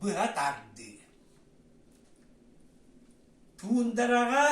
быһа тардыы Туундараҕа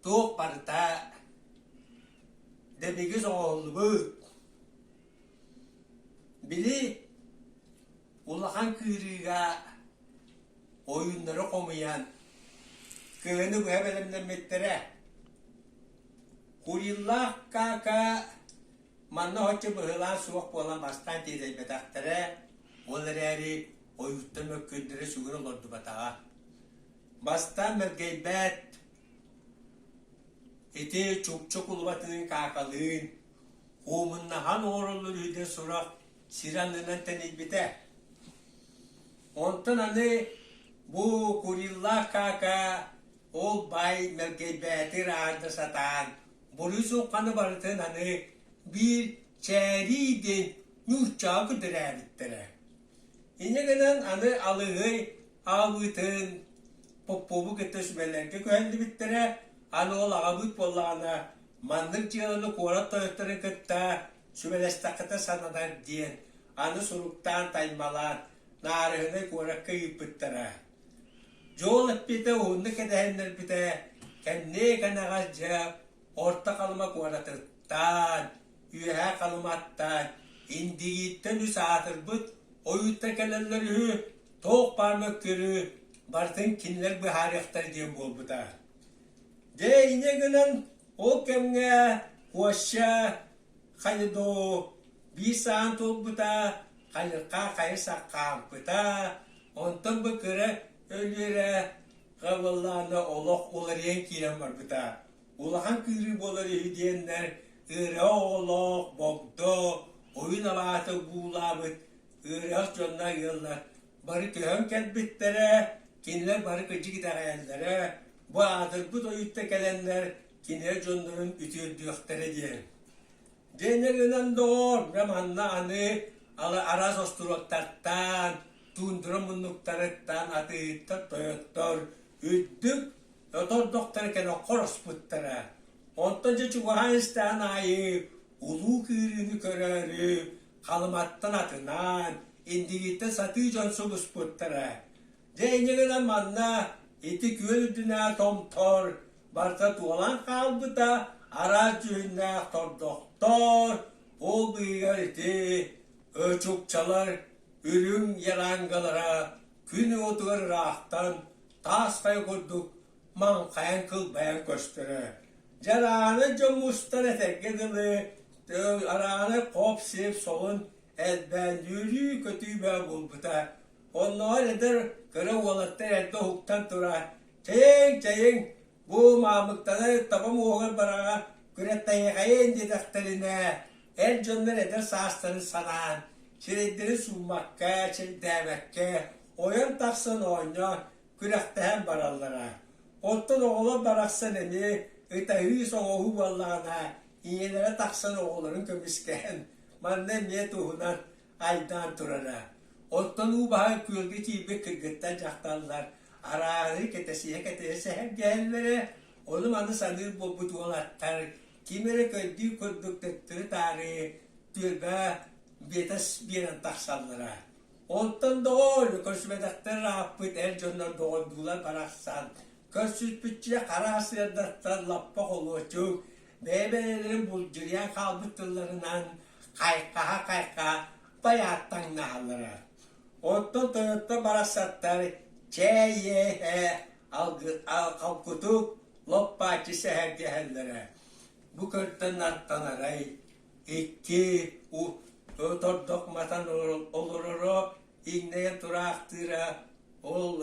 туоппарта Дэмигис оҕоллубут Били улахан кыырыыга ойууннары хомуйан кыһыны быһа бэлэмнэммиттэрэ Куриллах Кака Манна оччо быһылаан суох буолан бастаан тиэтэйбэтэхтэрэ, ол эрээри ойууттан мөккүөрдэрэ сүгүр олордубатаҕа. Бастаан мэлгэйбээт, ити чукчу кулубатыын каакалыын, куумуннаһан оҥороллор үһү диэн сурах сир аннынан тэнийбитэ. Онтон аны бу куриллаах каака ол баай мэлгэйбээти ырааһырда сатаан Борисовканы барытын аны биир чээрий диэн нууччаҕа көтүрээбиттэрэ. Инньэ гынан аны алыһый аабытын Попову кытта сүбэлэргэ көһөллүбүттэрэ, аны ол аҕабыт буоллаҕына маннык дьыаланы куорат тойотторун кытта сүбэлэстэххитэ сананар диэн аны суруктаан-таймалаан Наарыһынай куоракка ыыппыттара. Дьуол эппитэ уһуннук кэтэһиннэрбитэ кэннии-кэнэҕэс дьэ Орто Халыма куоратыттан, Үөһээ Халыматтан, Индигииттэн үс аатырбыт ойуутта кэлэллэр үһү, туох баар мөккүөрү барытын кинилэр быһаарыахтара диэн буолбута. Дьэ инньэ гынан ол кэмҥэ Куоща Хайыдо биир саһан туолбута, хайырҕа хайы саккаампыта, Онтон бу кыра өлүөрэ Хабыллаана олох уларыйан киирэн барбыта. Улахан кыырыы буолар үһү диэннэр ыара оҕолоох Богдо ойун алаата буулаабыт ыарах дьонно ыаллар бары көһөн кэлбиттэрэ, кинилэр бары кырдьык итэҕэйэллэрэ, бу аадырбыт ойуутта кэлэннэр кинилэр дьоннорун үтүөрдүөхтэрэ диэн. Дэнэ гынан доҕоор, бэ манна аны алы араас остуруоттартан, тундра муннуктарыттан атыыһыттар, тойоттор үрдүк отордохторо кэлэн хороспуттара. Онтон дьэ чугаһаан истэҕин аайы улуу кыырыыны көрөөрү Халыматтан атынаан, Индигиттэн сатыы дьон субуспуттара. Дьэ иннигинэ манна ити күөл үрдүнэ томтор барыта туолан хаалбыта араас дьүһүннээх тордохтоор ол быыһыгар ити чукчалар үрүҥ ярангылара күн уотугар ыраахтан таасхайа курдук маҥхайан кылбайан көстөрө дьэ арааны дьон мустан этэргэ дылы арааны хоп-сип солун элбээн үөрүү-көтүү бөҕө буолбута Оннооҕор эдэр кыра уолаттар эрдэ уһуктан тура «Чэйиҥ, чэйиҥ, бу маамыктаны табам уоһугар бараҕа күрэхтэһиэхэйин» диэтэхтэринэ, эр дьоннор эдэр саастарын санаан, сирэйдэрин сууммакка, сирдээбэккэ ойон тахсан оонньоон, күрэхтэһэн бараллара. Оттон оҕолор барахсан эмиэ ытаһыы-соҕоһуу буоллаҕына, ийэлэрэ тахсан оҕолорун көмүскэһэн, манна эмиэ туһунан айдаан турара. Оттон уу баһа күөлгэ тиийбит кыргыттар дьахталлар арааһы кэтэсиһэ-кэтэсиһэ сэһэргэһэллэрэ, ону-маны саныыр буолбут уолаттар ким эрэ көрдүү курдук төттөрү-таары түөлбэ биэтэ биэрэн тахсаллара. Оттон доҕоор, көрсүбэтэхтэр аахпыт эр дьоннор доҕордуулар барахсан көрсүспүччэ хара сыардаттан лаппа холуочук бэйэ-бэйэлэрин булдьуйан хаалбыт тылларынан хайхаһа-хайхаһа байааттаҥнаһаллара. Оттон тойоттор барахсаттар чээ иэһэ халкутук лоппааччы сэһэргэһэллэрэ. Бу көрдөн аттанарай икки тордох матан олороро иҥнэйэн тураахтыыра ол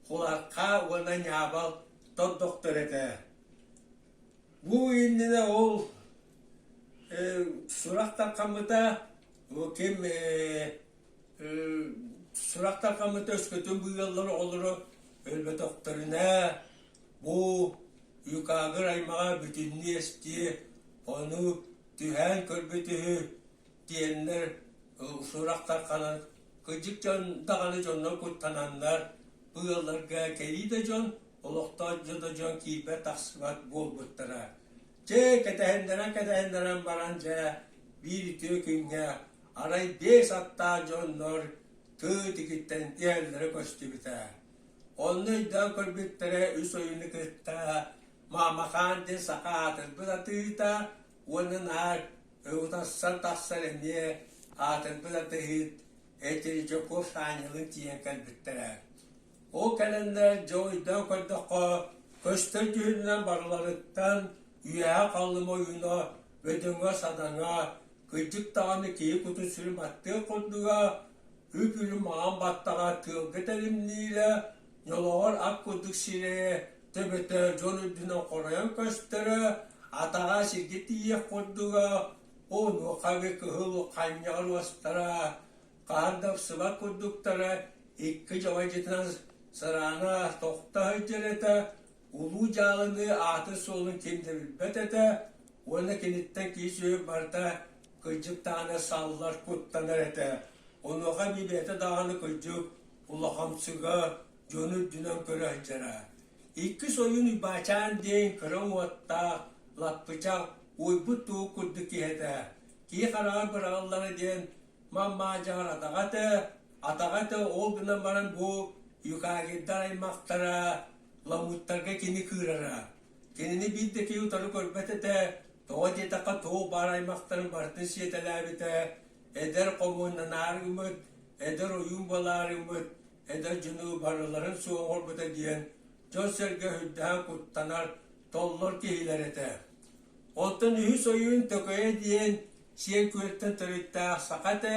куларха уонна ньаабал тордохтор этэ Бу иннинэ ол э, сурах тархаммыта бу ким э, э, сурах тархаммыта өскөтүн бу ыаллар оҕолоро өлбөтөхтөрүнэ бу юкагыр аймаҕа бүтүннүү эстиэ ону түһээн көрбүт үһү диэннэр э, сурах тарханан кыдьык дьон даҕаны дьоннор куттананнар бу ыалларга кэлии да дьон олохтоох дьоно дьон киирбэт-тахсыбат буолбуттара. Дьэ, кэтэһиннэрэн-кэтэһиннэрэн баран, дьэ, биир үтүө күҥҥэ арай биэс аттаах дьоннор тыт ититтэн иһэллэрэ көстүбүтэ. Онно өйдөөн көрбүттэрэ үс ойууну кытта Маамакаан диэн саха аатырбыт атыыта уонна наар ытарсан тахсар эмиэ аатырбыт атыыһыт Этельжаков Аанньалын тиийэн кэлбиттэрэ. Ол кэлэннэр дьэ өйдөөн көрдөххө, көстөр дьүһүнүнэн барыларыттан үөһэ-халыма ойууна, бөдөҥө-садаҥа, кырдьык даҕаны киһи кутун-сүрүн баттыах курдуга, үп-үлүн маҥан баттаҕа тыалга тэримниилэ, ньолоҕор ат курдук сирэйэ төбөтө дьон үрдүнэн хоройон көстөрө, атаҕа сиргэ тиийиэх курдуга, онуоха эбэ кыһыл ханньаҕар уостара, Хаһан да охсубат курдуктара икки чоҕойдьытынан сыраана тохто сылдьар этэ, улуу дьаалыныы аатын-суолун ким да билбэт этэ уонна киниттэн киис-үөл барыта кыдьыктаана саллар куттанар этэ. Онуоха Мибиэтэ даҕаны кырдьык улахамсыга дьону үрдүнэн көрө сылдьара. Иккис ойуун Уйбаачаан диэн кыра уоттаах, лаппычах, уойбут туох курдук киһи этэ. Киһи хараҕар быраҕыллара диэн Мамаа Дьаҕаратаҕа этэ, атаҕа этэ, ол гынан баран бу юкагирдар аймахтара ламуттарга кини кыырара. Кинини биир да киһи утары көрбөт этэ, тоҕо диэтэххэ туох баар аймахтарын барытын сиэтэлээбитэ, эдэр хомууннанаар гыммыт, эдэр ойуун буолаар гыммыт, эдэр дьону барыларын суоҕурбута диэн дьон-сэргэ үрдэһэн куттанар толлор киһилэр этэ. Оттон үһүс ойуун Төкөйө диэн сиэн күөлтэн төрүттээх саха этэ.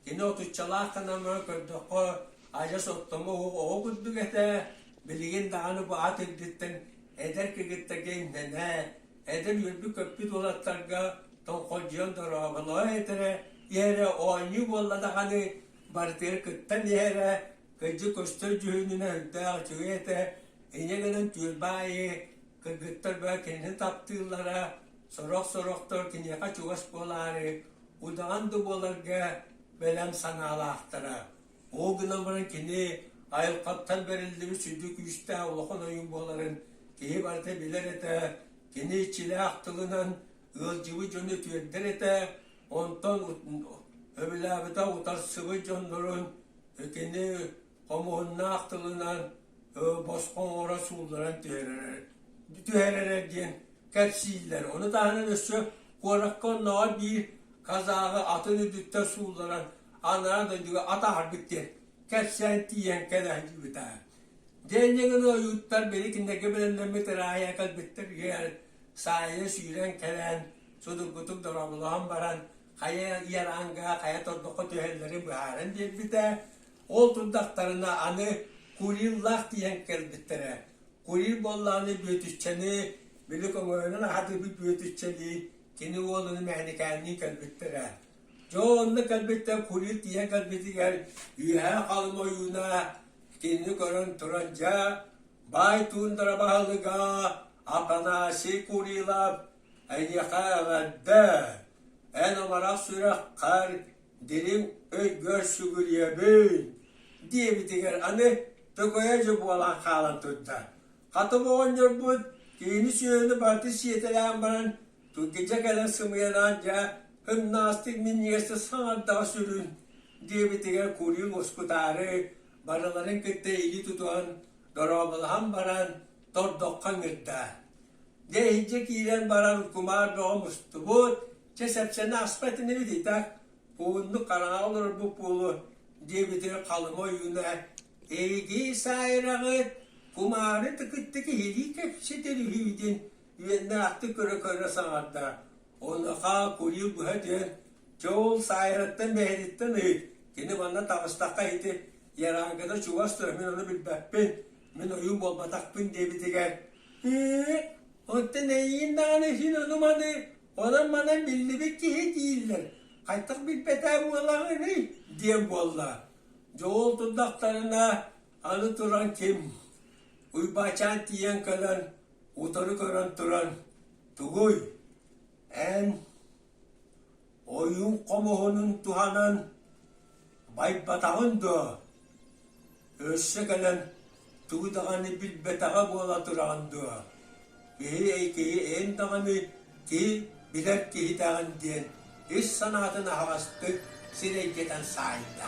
Кини отуччалаах кынамы көрдөххө адьас оттомо оһо курдук этэ. Билигин даҕаны бу ат үрдүттэн эдэр кыгыттарга имнэнэ, эдэр үөрбүт-көппүт уолаттарга тоҥхолдьуйан дорооболоо этэрэ, иһэрэ оонньуу буолла даҕаны, барытыгар кыттан иһэрэ, Кырдьык көстөр дьүһүнүнэ өрдөөх үчүгэй этэ, иньэ гынан түөлбэ аайы кыргыттар быһа кинини таптыыллара, сорох-сорохтор киниэхэ чугас буолаары, удаҕан да буоларга бэлэм санаалаахтара. Ол гынан баран кини айылҕаттан бэриллибит сүдү күүстээх улахан ойун буоларын киһи барыта билэр этэ, кини иччилээх тылынан ыалдьыбыт дьону үтүөрдэр этэ, онтон өбүлээбитэ утарсыбыт дьоннорун Итини хомуһуннаах тылынан босхо оҥоро суулларан түһэрэрэ диэн кэпсииллэр. Ону таһынан өссө куоракка оннооҕор биир казаҕы атын үрдүттэн суулларан анараа дойдуга атаһаргыт диэн кэпсээн тиийэн кэлэһдьибита. Дэннигин ойууттар били кинилэргэ бэлэмнэммит ыраайа кэлбиттэр саайа сүүрэн кэлээн судургутук дорооболоон баран Хайа Ярангаҕа хайа тордоххо түһэллэрин быһааран биэрбитэ. Ол турдахтарына аны Куриллаах тиийэн кэлбиттэрэ. Курил буоллаҕына Бүөтүччэни, били көҥөйөнөн аһатыыбыт Бүөтүччэлии, кини уолunu Мэхэньикээнниин кэлбиттэрэ. Дьэ онно кэлбиттэр Курил тиийэн кэлбитигэр үөһээ халым ойууна кинини көрөн туран дьэ баай туундара баһылыга Афанасий Курилов Эйиэхэ эҕэрдэ, эн амарах сүрэххэр дириҥ өйгөр сүгүрүйэбин, диэбитигэр аны төкөйө дьэ буолан хаалан турда. Хатыҥ оҕонньорбут киһини-сүөһүнү барыта сиэтэлээн баран тургидьэ кэлэн сымыйалаан дьэ ымнаастык минньигэстик саҥардаҕа сүрүн, диэбитигэр курьун мускутаары барыларын кытта илии тутуһан дорооболоһон баран тордоххо ыҥырда. Дьэ иһирдьэ киирэн баран кумаар бөҕө мустубут, чэ сэпсэни аспат ини да пууннук хараҥа олорорбут буолуо диэбитигэр Халыма ойууна «Эйигии саайраҕыт, кумаары тыкыттык иһирии кэпсэтэр үһүйүтүн үөннээх көрө-көрө саҥарда. Онуоха куйуу быһа диэн чуул саайраттан мэһириттэн ыйыт, кини манна таҕыстахха ити ярааҥкыта чугас тура мин ону билбэппин, мин ойуун буолбатахпын диэбитигэр оттон эйиин даҕаны син одуманы онон манан биллибит киһи дииллэр хайдах билбэтэ буолаҕыный диэн буолла дьол турдахтарына аны туран ким уйбаачаан тиийэн кэлэн утары көрөн туран тугуй эн Ойуун хомуһунун туһанан байбатаҕын дуо? Өссө кэлэн тугу даҕаны билбэтэҕэ буола тураҕын дуо, киһи киһи эн даҕаны киһи билэр киһитэҕин диэн ис санаатын аһаҕастык сирэйдэтэн саайда